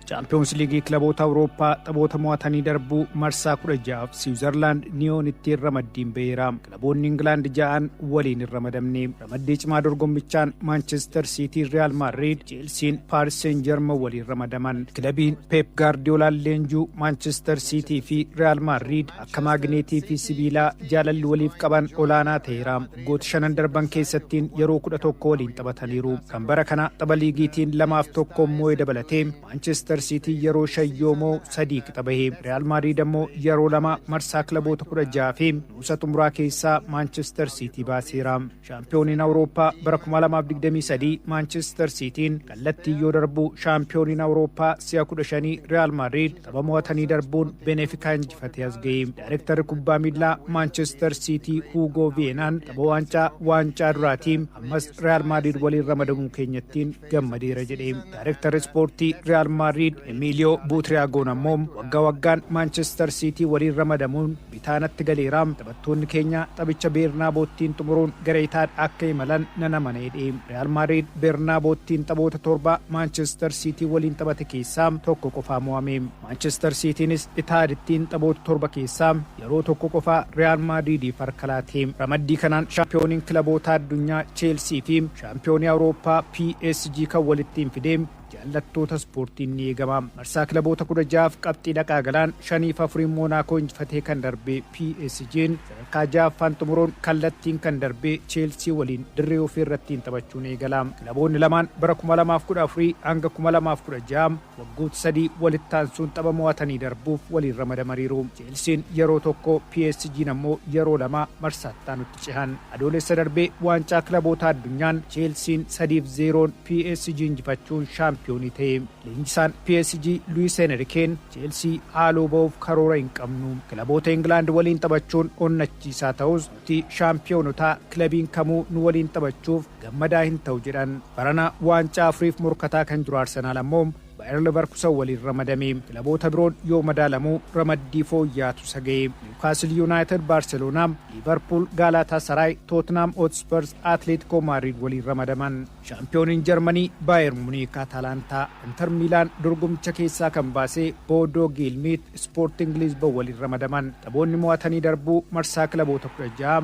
Chaampiyoonsi Liigii Kilaboota Awurooppaa taphoota mo'atanii darbuu marsaa 16f Siwiizarlaand Niyoonittiin ramaddiin ba'eera. Kilaboonni Ingilaand ja'an waliin hin ramadamne. Ramaddii cimaa dorgommichaan Maanchestar Siitii Riyaal Maadriid, Cheelsiin Paaris Seen Jarman waliin ramadaman. Kilabiin Peep Gaardiyoolaan leenjuu Maanchestar Siitii fi Riyaal Maadriid ka maagneetii fi sibiilaa jaalalli waliif qaban olaanaa ta'eera. Waggoota shanan darban keessattiin yeroo kudha tokko waliin taphataniiru. Kan bara kana tapha liigiitiin lamaaf tokko moo'e dabalatee Maanchestar Siitii yeroo shan yoo moo'u sadii qixa bahe. Riyaal Maadriid ammoo yeroo lama marsaa kilaboota kudha jaha fi nuusa xumuraa keessaa Maanchestar Siitii baaseera. Shaampiyooniin Awurooppaa bara 2023 Maanchister Siitiin kallattiin yoo darbu shaampiyooniin Awurooppaa si'a 15 Riyaal Maadriid tapha mo'atanii darbuun Benefikaa injifatee as ga'e. Daayirektarri kubbaa miilaa Maanchister Siitii Huugoo Viyeenaan tapha waancaa waancaa duraatii ammas Riyaal Maadriid waliin ramadamuu keenyattiin gammadeera jedhe. Daayirektarri ispoortii Riyaal Maadriid Emiiliyoo Buutiriyaagoon ammoo waggaa waggaan Maanchister Siitii waliin ramadamuun bitaa natti galeera. Taphattoonni keenya taphicha Beernaaboottiin xumuruun gara Itaad akka imalan nan amana jedhe. Riyaal Maadriid Beernaaboottiin taphoota torba Maanchistar Siitii waliin taphate keessaa tokko qofaa mo'ame. Maanchistar Siitiinis Itaadittiin taphoota torba keessaa yeroo tokko qofaa Riyaal Maadriidiif harka laate. Ramaddii kanaan shaampiyooniin kilabootaa addunyaa Cheelsii fi shaampiyoonii Awurooppaa PSG kan walittiin fide. Jaallattoota ispoortiin ni eegama. Marsaa kilaboota 16f qabxii dhaqaa galaan 5 fi 4n Moonaakoo injifatee kan darbe PSGn sadarkaa 6ffaan xumuruun kallattiin kan darbe Cheelsii waliin dirree ofii irrattiin taphachuun eegala. Kilaboonni lamaan bara 2014-2016 waggoota sadii walitti aansuun tapha mo'atanii darbuuf waliin ramadamariiru. Cheelsiin yeroo tokko PSGn ammoo yeroo lama marsaa itti aanutti cehan. Adoolessa darbe waancaa kilabootaa addunyaan Cheelsiin 3 fi 0n PSG injifachuun shaampiyoonii ta'e. Leenjisaan PSG Luis Enrikeen Cheelsii haaloo ba'uuf karoora hin qabnu. Kilaboota Ingilaand waliin taphachuun onnachiisaa ta'us nuti shaampiyoonotaa kilabiin kamuu nu waliin taphachuuf gammadaa hin ta'u jedhan. Barana waancaa afuriif morkataa kan jiru Arsenaal ammoo Bayer Leverkusen waliin ramadame. Kilaboota biroon yoo madaalamu ramaddii fooyya'aatu isa gahe. Niwkaasil Yunaayitid, Baarseloonaa, Liivarpuul, Gaalaataasaraay, Tootnaam Hootspars, Atleetikoo Maadriid waliin ramadaman. Shaampiyooniin Jarmanii Baayer Muniik, Ataalaantaa, Inter Miilaan dorgommicha keessaa kan baase Boodoo Giilmiit, Ispoortiing Liizban waliin ramadaman. Taphoonni mo'atanii darbuu marsaa kilaboota 16.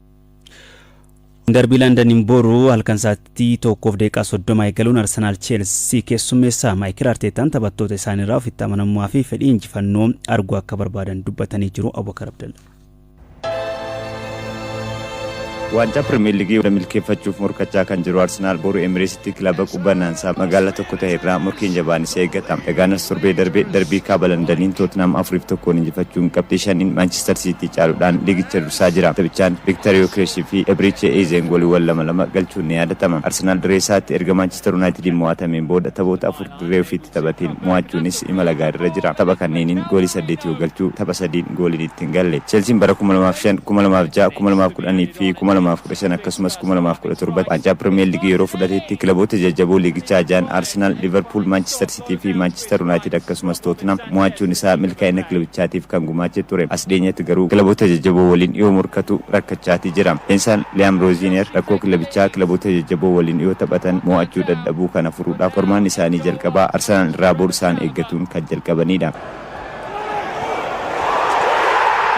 Darbii Landaniin boru halkan sa'aatii 1:30 eegaluun Arsenaal Cheelsii keessummeessa. Maayikil Arteetaan taphattoota isaaniirraa ofitti amanamummaa fi fedhii injifannoo arguu akka barbaadan dubbatanii jiru. Abubakar Abdalla. Waancaa Pirimeer Liigii milkeeffachuuf morkachaa kan jiru Arsenaal boru Emirates tti kilaba qubbannaansaa magaalaa tokko tahe irraa morkiin jabaan isa eeggata. Egaanars torbee darbe darbii Kaaba Landaniin Tootinaam 4 fi 1n injifachuun qabxii 5n Maanchistar Siitii caaluudhaan liigicha dursaa jira. Taphichaan Viktar Yokeresh fi Ebriche Ezeeng gooliiwwan lama lama galchuun ni yaadatama. Arsenaal dirree isaatti erga Maanchistar Unaayitidiin mo'atameen booda taphoota 4. Dirree ofiitti taphatiin mo'achuunis imala gaariirra jira. Tapha kanneeniin goolii saddeet yoo galchu tapha sadiin gooliin itti hin galle. Chelsiin bara kuma lamaa fi shan, kuma lamaa fi ja'a, kuma lamaa fi kudhan fi kuma lamaa fi kudha shan akkasumas kuma lamaa fi kudha torbatti waancaa Pirimeer Liigii yeroo fudhatetti kilaboota jajjaboo liigichaa ja'an Arsenaal, Liiverpuul, Maanchister Siitii fi Maanchister Yunaayitid akkasumas Tootinhaam mo'achuun isaa milkaa'ina kilabichaatiif kan gumaache ture. As dhiyeenyatti garuu kilaboota jajjaboo waliin yoo morkatu rakkachaati jira. Leensaan Liyaam Rooziineer rakkoo kilabichaa kilaboota jajjaboo waliin yoo taphatan mo'achuu dadhabuu kana furuudhaaf qormaanni isaanii jalqabaa Arsenaal irraa bor isaan eeggatuun kan jalqabanidha.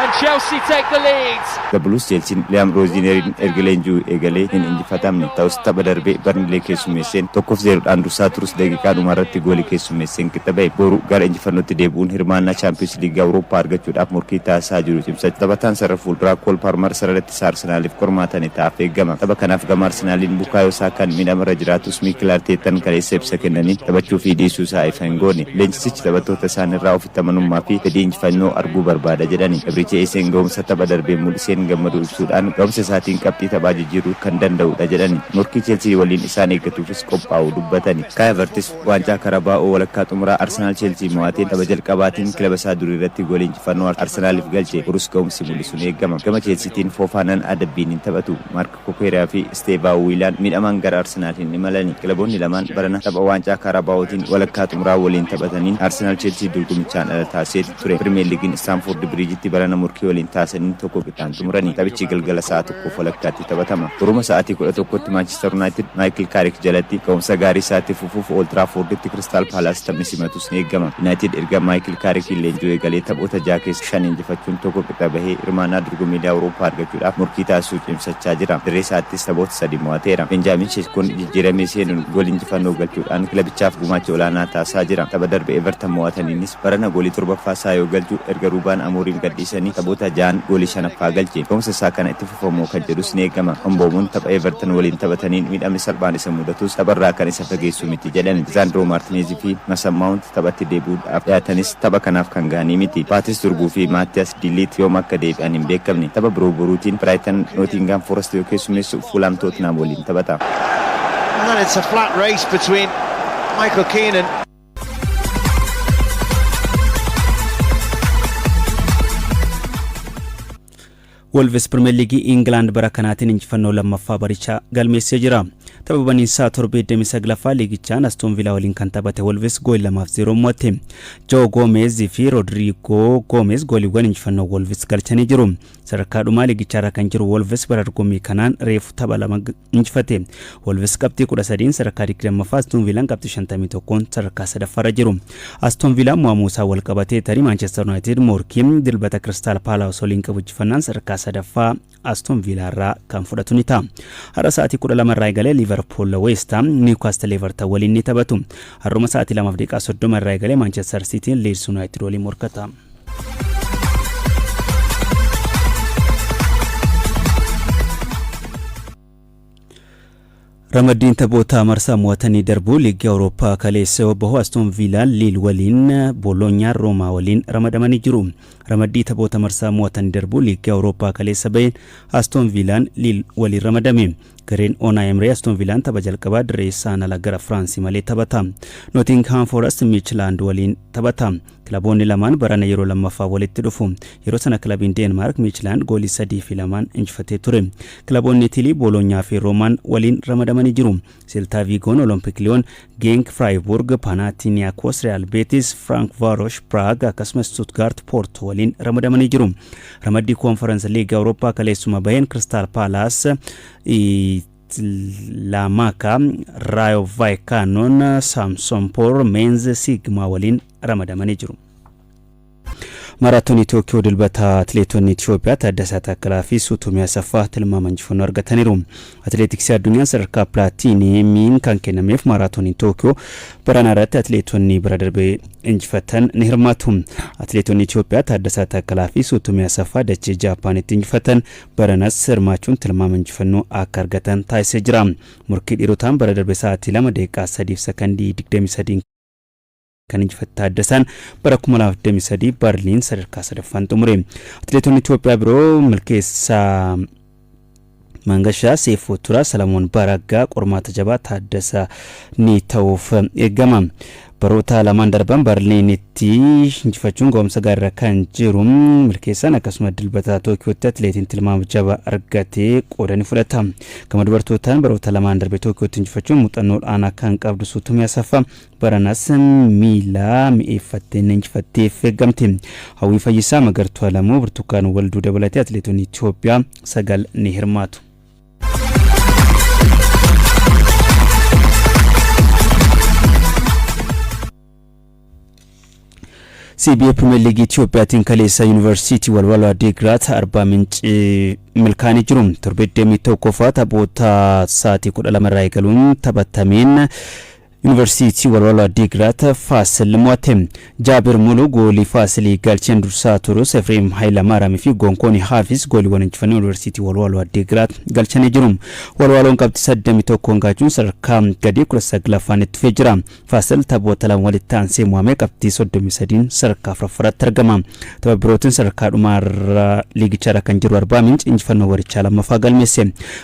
And Chelsea take the lead. The Blues Chelsiin Liam Rosineeriin erga leenji'uu eegalee hin injifatamne. Ta'us tapha darbe Barnilee keessummeesseen 1f 0 dhaan dursaa turus daqiiqaa dhumaa irratti goolii keessummeesseen qixa ba'e. Boru gara injifannootti deebi'uun hirmaannaa Chaampiyoonsi Liigii Awurooppaa argachuudhaaf morkii taasisaa jiru cimsachuu taphataan sarara fuulduraa Kool Paarmar sarara Saakaa Arsenaaliif qormaata ni ta'aaf eegama. Tapha kanaaf gama Arsenaaliin Bukaayoo Saakaan miidhamarra jiraatus Miikil Arteettan kaleessa ibsa kennaniin taphachuu fi dhiisuu isaa ifa hin goone. Leenjisichi taphattoota isaanirraa ofitti amanummaa fi fedhii injifannoo arguu barbaada jedhani. Ebriiche Eeseen gahumsa tapha darbee mul'iseen gammaduu ibsuudhaan gahumsa isaatiin qabxii taphaa jijjiiruu kan danda'udha jedhani. Morkii Cheelsii waliin isaan eeggatuufis qophaa'uu dubbatani. Kaayi Havertis. Waancaa Karabaa'oo walakkaa xumuraa Arsenaal Cheelsii mo'atee tapha jalqabaatiin kilaba isaa durii irratti goolii injifannoo Arsenaaliif galche Urus ga'umsi mul'isuun eegama. Gama Cheelsiitiin Foofaanan adabbiin hin taphatu. Maark Kukuerea fi Isteevaa Wiilaan miidhamaan gara Arsenaal hin imalani. Kilaboonni lamaan barana tapha Waancaa Kaarabaa'ootiin walakkaa xumuraa waliin taphataniin Arsenaal Cheelsii dorgomichaan ala taasiseeti. ture. Pirimeer Liigiin Istaanfoordi Biriijitti barana morkii waliin taasaniin tokko qixaan xumurani. Taphichi galgala sa'a tokkoof walakkaatti taphatama. Boruma sa'aatii 11tti Maanchistar Yunaayitid Maayikil Kaarik jalatti ga'umsa gaarii isaa itti fufuuf Ool Tiraafoorditti Kiristaal Paalaas taphni simatus ni eegama. Yunaayitid erga Maayikil Kaarikiin leenji'uu eegalee taphoota jaha keessaa shan injifachuun tokko qixa bahee hirmaannaa dorgommiilee Awurooppaa argachuudhaaf morkii taasisuu cimsachaa jira. Dirree isaattis taphoota sadii mo'ateera. Beenjaamiin Sheeskoon jijjiiramee seenuun goolii injifannoo galchuudhaan kilabichaaf gumaacha olaanaa taasisaa jira. Tapha darbe Evertan mo'ataniinis. Barana goolii torbaffaa isaa yoo galchu erga Ruubaan Amooriim gadhiisanii taphoota ja'an goolii shanaffaa galche. Gahumsa isaa kana itti fufa moo kan jedhus ni eegama. Mboomoon tapha Evertan waliin taphataniin miidhamni salphaan isa mudatus tapharraa kan isa fageessu miti jedhan. Lisaandiroo Maartineez fi Masan Maawunt taphatti deebi'uudhaaf dhiyaatanis tapha kanaaf kan gahanii miti. Paatis Durguu fi Maattiyaas De Liit yoom akka deebi'an hin beekamne. Tapha biroo boruutiin Biraayitan Nootiingaam Foorasti yoo keessummeessu Fuulhaam Tootinaam waliin taphata. Wolves Pirimeer Liigii Ingilaand bara kanaatiin injifannoo lammaffaa barichaa galmeessee jira. Tapha baniinsaa torbee 29ffaa liigichaan Astoon Viilaa waliin kan taphate Wolves gool 2-0 mo'atte. Joo Goomeez fi Rodriigoo Goomeez gooliiwwan injifannoo Wolves galchanii jiru. Sadarkaa dhumaa liigichaarra kan jiru Wolves bara dorgommii kanaan reefu tapha lama injifate. Wolves qabxii 13 sadarkaa 20ffaa Aston Viilaan qabxii 51 sadarkaa 3ffaarra jiru. Aston Viilaan mo'amuu isaa wal qabatee tarii Maanchester Yuunaayitid morkiin dilbata Kiristaal Paalaas waliin qabu injifannaan sadarkaa 3ffaa Aston Viilaarraa kan fudhatu ni ta'a. Har'a sa'aatii 12 irraa eegalee Liivarpuul Weestaam Niwkaastil Evertan waliin ni taphatu. Har'uma sa'aatii 2:30 irraa eegalee Maanchester Siitiin Liids Yuunaayitid waliin morkata. Ramaddiin taphoota marsaa mo'atanii darbuu liigii Awurooppaa kaleessa yoo bahu Astoon Viilaan Liil waliin Booloonyaan Roomaa waliin ramadamanii jiru. Ramaddii taphoota marsaa mo'atanii darbuu liigii Awurooppaa kaleessa baheen Astoon Viilaan Liil waliin ramadame. Gareen Oonaa Emree Astoon Viilaan tapha jalqabaa dirree isaan ala gara Firaansi malee taphata. Nootingihaam Foorest Miichilaand waliin taphata. Kilaboonni lamaan barana yeroo lammaffaaf walitti dhufu. Yeroo sana kilabiin Deenmaark Miichilaand goolii 3 fi 2n injifatee ture. Kilaboonni Itilii Booloonyaa fi Roomaan waliin ramadamanii jiru. Seltaa Viigoon Olompik Liyoon, Geenk Firaayibuurg, Paanaatiniyaakos Riyaal Beetis, Firaank Vaarosh Piraag akkasumas Stuutgaart Poortoo waliin ramadamanii jiru. Ramaddii Koonfaransi Liigii Awurooppaa kaleessuma baheen Kiristaal Paalaas Tlaamaka, Raayo Vaayikaanoon, Saamsoonpoor, Meenze, Siigmaa waliin ramadamanii jiru. Maaraatoonii Tookiyoo Dilbata Atileetonni Itiyoophiyaa Taaddasaa Taakkalaa fi Suutumii Asaffaa tilmaama injifannoo argataniiru. Atileetiksii addunyaan sadarkaa pilaatiinimiin kan kennameef maaraatooniin Tookiyoo baranaa irratti atileetonni bira darbee injifatan ni hirmaatu. Atileetonni Itiyoophiyaa Taaddasaa Taakkalaa fi Suutumii Asaffaa dachee Jaappaanitti injifatan Baranas hirmaachuun tilmaama injifannoo akka argatan taasisee jira. Morkii dhiirotaan bara darbe sa'aatii 2 daqiiqaa 3 fi sakandii 23n kan injifate Taaddasaan bara 2023 Barliin sadarkaa sadaffaan xumure. Atileetonni Itoophiyaa biroo Milkeessaa Mangashaa, Seefuu Turaa, Salamoon Baraggaa qormaata jabaa Taaddasa ni ta'uuf eegama. Baroota lamaan darban Barliinitti injifachuun gahumsa gaariirra kan jiru milkeessaan akkasuma Dilbata Tookiyootti atileetiin tilmaama jabaa argate qooda ni fudhata. Gama dubartootaan baroota lamaan darbe Tookiyootti injifachuun muuxannoo ol'aanaa kan qabdu Suutumee Asaffaa baranas miila mi'eeffattee ni injifatteef eeggamti. Hawwii Fayyisaa, Magartuu Alamuu, Birtukaan Walduu dabalatee atileetonni Itoophiyaa sagal ni hirmaatu. CBA Pirimeer Liigii Itiyoophiyaatiin kaleessa Yuunivarsiitii Walwaloo Addeegiraat Arbaa Mincii milkaa'anii jiru. Torbee 21ffaa taphoota sa'aatii 12 irraa eegaluun taphatameen Yuunivarsiitii Walwaloo Addiigiraat Faasil mo'ate. Jaabir Muluu goolii Faasilii galcheen dursaa turus Efreem Hayilamaaram fi Gonkooni Haafis gooliiwwan injifannoo Yuunivarsiitii Walwaloo Addiigiraat galchanii jiru. Walwaloon qabxii 31 gaachuun sadarkaa gadii 19ffaan itti fufee jira. Faasil taphoota lama walitti aansee mo'amee qabxii 33n sadarkaa 4ffaarratti argama. Tapha birootiin sadarkaa dhumaarra liigicharra kan jiru Arbaa Minc injifannoo warichaa lammaffaa galmeesse.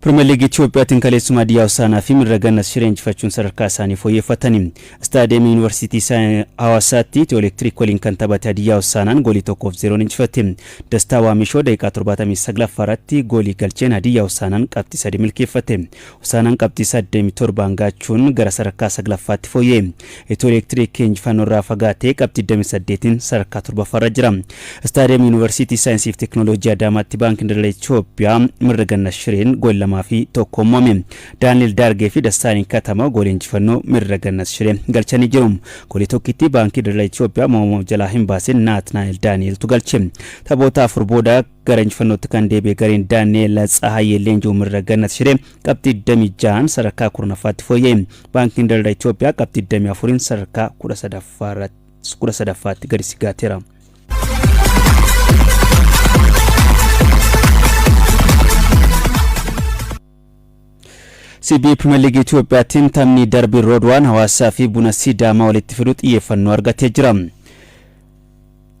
Pirimeer Liigii Itiyoophiyaatiin kaleessuma Hadiyyaa Hosaanaa fi Mirra Gannas Shiree injifachuun sadarkaa isaanii fooyyeffatani. Istaadiyeemii Yuunivarsiitii Hawaasaatti Itiyoo Elektiriik waliin kan taphate Hadiyyaa Hosaanaan goolii tokkoof zeeroon injifate. Dastaa Waamishoo daqiiqaa 79ffaa irratti goolii galcheen Hadiyyaa Hosaanaan qabxii sadii milkeeffate. Hosaanaan qabxii 87 hangaachuun gara sadarkaa 9ffaatti fooyya'e. Itiyoo Elektiriik injifannoorraa fagaatee qabxii 28'n sadarkaa 7ffaarra jira. Istaadiyam Yuunivarsiitii Saayinsiif Teeknooloojii Adaamaatti Baankiin Daldala Itiyoophiyaa Mirrigannat Shireen goolii 2 fi 1'n mo'ame. Daani'el Daargee fi Dassaaleny Katama goolii injifannoo Mirrigannat Shiree galchanii jiru. Goolii tokkittii Baankii Daldala Itiyoophiyaa mo'ama of jalaa hin baasin Naatnaa'el Daani'eltu galche. Taphoota afur booda Gara injifannootti kan deebi'e gareen Daani'eel Tsahaayee Leenjoo Mirragannat Shiree qabxii 26n sadarkaa 10ffaatti fooyya'e. Baankiin Daldala Itoophiyaa qabxii 24n sadarkaa 13ffaatti gadi sigaateera. CB Pirimeer Liigii Itoophiyaattiin taphni darbii Roodwaan hawaasaa fi buna Sidaamaa walitti fidu xiyyeeffannoo argatee jira.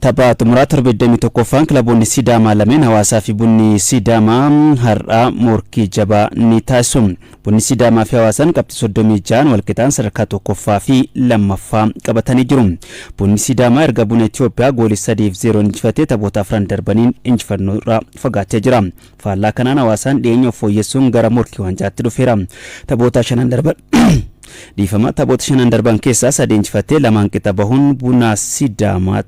Tapha xumuraa torbee 21ffaan kilaboonni Sidaamaa lameen Hawaasaa fi Bunni Sidaamaa har'aa morkii jabaa ni taasisu. Bunni Sidaamaa fi Hawaasaan qabxii 36n walqixaan sadarkaa tokkoffaa fi lammaffaa qabatanii jiru. Bunni Sidaamaa erga Buna Itoophiyaa goolii 3 fi 0 injifatee taphoota afran darbaniin injifannoo irraa fagaatee jira. Faallaa kanaan hawaasaan dhiyeenya of fooyyessuun gara morkii wancaatti dhufeera. Taphoota shanan darban dhiifama taphoota shanan darban keessaa sadii injifattee lamaan qixa bahuun bunaa sidaamaa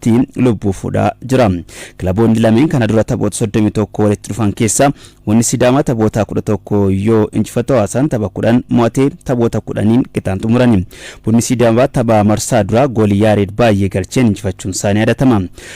irratti lubbuu fuudhaa jira. Kilaboonni lameen kana dura taphoota 31 walitti dhufan keessaa wanni Sidaamaa taphoota 11 yoo injifatu hawaasaan tapha 10 mo'atee taphoota 10n qixaan xumurani. Bunni Sidaamaa tapha marsaa duraa goolii Yaareed baay'ee galcheen injifachuun isaanii yaadatama.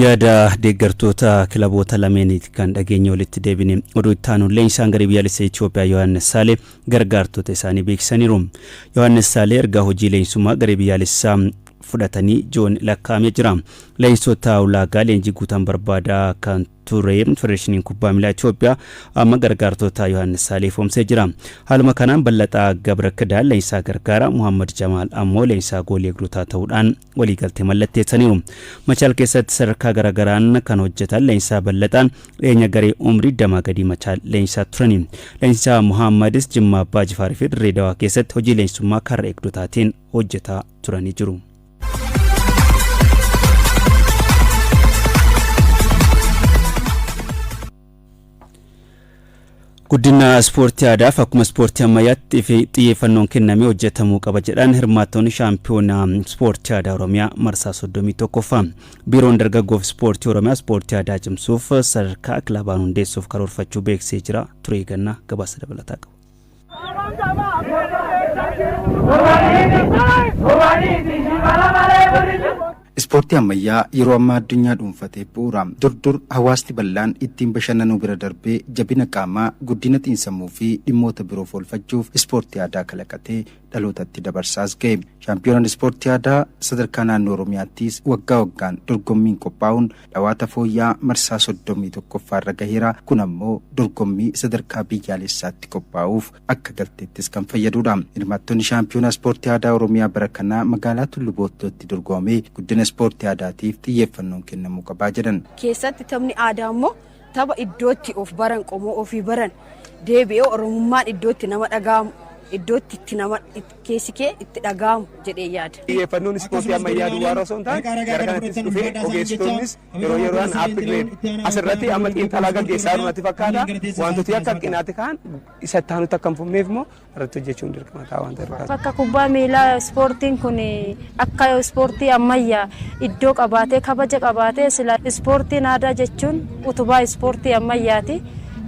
yaada deeggartoota kilaboota lameeniiti kan dhageenye walitti deebine oduu itti aanuun leenjisaan garee biyyaalessa Itoophiyaa Yohaannis Saalee gargaartota isaanii beeksisaniiru. Yohaannis Saalee ergaa hojii leenjisummaa garee biyyaalessaa fudhatanii joon lakkaa'amee jira. Leenjisota ulaagaa leenjii guutan barbaadaa kan ture. Federeeshiniin Kubbaa Miilaa Itoophiyaa amma gargaartota Yohaannis Saalee ifoomsee jira. Haaluma kanaan Ballaxaa Gabra Kidaan leenjisaa gargaaraa, Muhammad Jamaal ammoo leenjisaa goolii eegdotaa ta'uudhaan waliigaltee mallatteessaniiru. Machaal keessatti sadarkaa garaagaraan kan hojjetan leenjisaa Ballaxaan dhiyeenya garee umrii damaa gadii Machaal leenjisaa turani. Leenjisaa Muhammadis Jimmaa Abbaa Jifaar fi Dirree Dawaa keessatti hojii leenjisummaa karra eegdotaatiin hojjetaa turanii jiru. Guddina ispoortii aadaaf akkuma ispoortii ammayyaatti xiyyeeffannoon kennamee hojjetamuu qaba jedhan hirmaattoonni shaampiyoonaa ispoortii aadaa Oromiyaa marsaa 31ffaa. Biiroon dargaggoof ispoortii Oromiyaa ispoortii aadaa cimsuuf sadarkaa kilabaan hundeessuuf karoorfachuu beeksisee jira. Turee gannaa gabaasa dabalataa qabu. Ispoortii ammayyaa yeroo ammaa addunyaa dhuunfatee bu'uura. Dur dur hawaasni bal'aan ittiin bashannanuu bira darbee jabina qaamaa, guddina xiinsammuu fi dhimmoota biroof oolfachuuf ispoortii aadaa kalaqatee dhalootatti dabarsaas ga'e. Shaampiyoonaan Ispoortii Aadaa sadarkaa naannoo Oromiyaattis waggaa waggaan dorgommiin qophaa'uun dhawaata fooyya'aa marsaa 31ffaa irra gaheera. Kun ammoo dorgommii sadarkaa biyyaalessaatti qophaa'uuf akka galteettis kan fayyaduudha. Hirmaattonni Shaampiyoonaa Ispoortii Aadaa Oromiyaa bara kanaa magaalaa Tullu Boottootti dorgomamee guddina ispoortii aadaatiif xiyyeeffannoon kennamuu qabaa jedhan. keessatti taphni aadaa immoo Tapha iddootti of baran qomoo ofii baran deebi'ee Oromummaan iddootti nama dhaga'amu iddootti itti nama keessi kee itti dhaga'amu jedhee yaada. Xiyyeeffannoon ispoortii ammayyaa duwwaarra osoo hin taane gara kanattis dhufee ogeessitoonnis yeroo yeroodhaan upgrade asirratti amma xiinxalaa gaggeessaa jiru natti fakkaata. Wantooti akka hanqinaatti ka'an isa itti aanutti akka hin fufneef immoo irratti hojjechuun dirqama ta'a waan ta'eef. Akka kubbaa miilaa ispoortiin kun akka ispoortii ammayyaa iddoo qabaatee kabaja qabaatee sila ispoortiin aadaa jechuun utubaa ispoortii ammayyaati.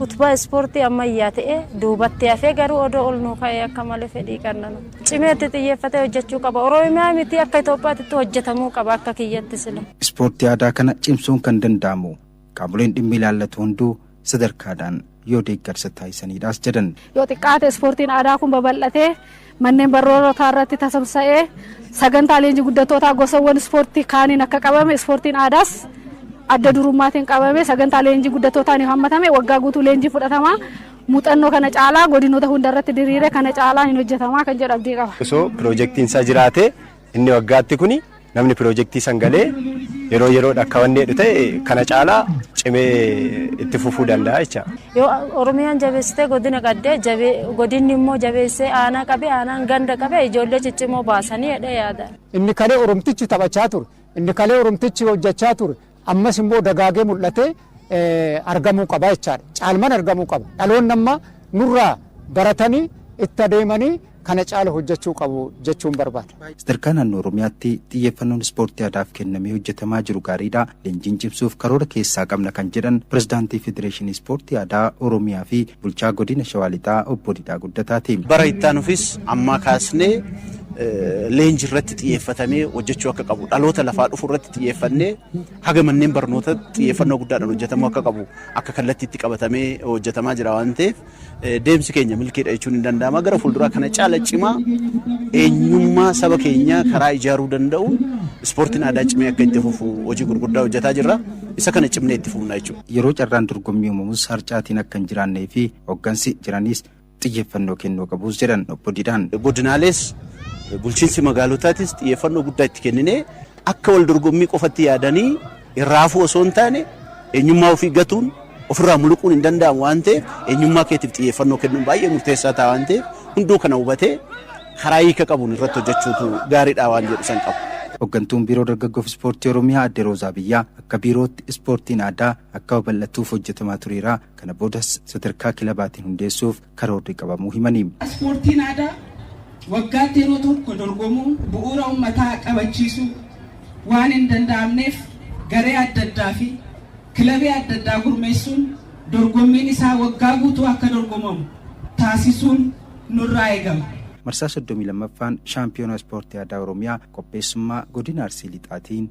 Utubaa ispoortii ammayyaa ta'ee duubatti hafee garuu odoo ol nuu ka'ee akka malee fedhii qabna. Cimeetti xiyyeeffatee hojjechuu qaba. Oromiyaa miti akka Itoophiyaatti hojjetamuu qaba akka kiyyatti sila. Ispoortii aadaa kana cimsuun kan danda'amu Qaamoleen dhimmi ilaallatu hunduu sadarkaadhaan yoo deeggarsa taasisaniidhaas jedhan. Yoo xiqqaate ispoortiin aadaa kun babal'atee manneen barnootaa irratti tasamsa'ee sagantaa leenjii guddattootaa gosawwan ispoortii kaaniin akka qabame ispoortiin aadaas adda durummaatiin qabame sagantaa leenjii guddattootaan yoo hammatame waggaa guutuu leenjii fudhatama muuxannoo kana caalaa godinoota hunda irratti diriire kana caalaa hin hojjetamaa kan jedhu abdii qaba. Osoo piroojeektiin isaa jiraate Inni waggaatti kuni namni pirojektii san galee yeroo yeroodha akka wanni jedhu ta'e kana caalaa cimee itti fufuu danda'a jecha. Yoo Oromiyaan jabeessitee godina qaddee jabee godinni immoo jabeessee aanaa qabe aanaan ganda qabe ijoollee ciccimoo baasanii jedhee yaada. Inni kalee Oromtichi taphachaa ture, inni kalee Oromtichi hojjachaa ture, ammas immoo dagaagee mul'atee argamuu qaba jechaadha. Caalman argamuu qaba. Dhaloonni amma nurraa baratanii itti adeemanii kana caala hojjechuu qabu jechuun barbaada. Sadarkaa naannoo Oromiyaatti xiyyeeffannoon ispoortii aadaaf kennamee hojjetamaa jiru gaariidha. Leenjiin cimsuuf karoora keessaa qabna kan jedhan pirezidaantii Federeeshinii Ispoortii Aadaa Oromiyaa fi bulchaa godina Shawaa Lixaa obbo Didhaa Guddataati. Bara itti aanufis ammaa kaasnee leenji irratti xiyyeeffatamee hojjechuu akka qabu dhaloota lafaa dhufu irratti xiyyeeffannee haga manneen barnoota xiyyeeffannoo guddaadhaan hojjetamuu akka qabu akka kallattiitti qabatamee hojjetamaa jira waan ta'eef deemsi keenya milkiidha jechuun hin danda'ama gara fuulduraa kana caala cimaa eenyummaa saba keenyaa karaa ijaaruu danda'u ispoortiin aadaa cimee akka itti fufu hojii gurguddaa hojjetaa jirra isa kana cimnee itti fufna jechuudha. Yeroo carraan dorgommii uumamus harcaatiin akka hin jiraannee fi hooggansi jiranis xiyyeeffannoo kennuu qabus jedhan Obbo Didhaan. Godinaalees bulchiinsi magaalotaatis xiyyeeffannoo guddaa itti kenninee akka wal dorgommii qofatti yaadanii irraa hafuu osoo hin taane eenyummaa ofii gatuun ofirraa muluquun hin danda'amu waan ta'eef eenyummaa keetiif xiyyeeffannoo kennuun baay'ee murteessaa ta'a waan ta'eef hunduu kana hubatee karaa hiika qabuun irratti hojjechuutu gaariidha waan jedhu san qabu. Hoggantuun Biiroo Dargaggoof Ispoortii Oromiyaa Aadde Roozaa Biyyaa akka biirootti ispoortiin aadaa akka babal'atuuf hojjetamaa tureera Kana boodas sadarkaa kilabaatiin hundeessuuf karoorri qabamuu himani. Ispoortiin aadaa waggaatti yeroo tokko dorgomuun bu'uura ummataa qabachiisuu waan hin danda'amneef garee adda addaa fi kilabii adda addaa gurmeessuun dorgommiin isaa waggaa guutuu akka dorgomamu taasisuun nurraa eegama. Marsaa 32ffaan Shaampiyoonaa Ispoortii Aadaa Oromiyaa qopheessummaa Godina Arsii Lixaatiin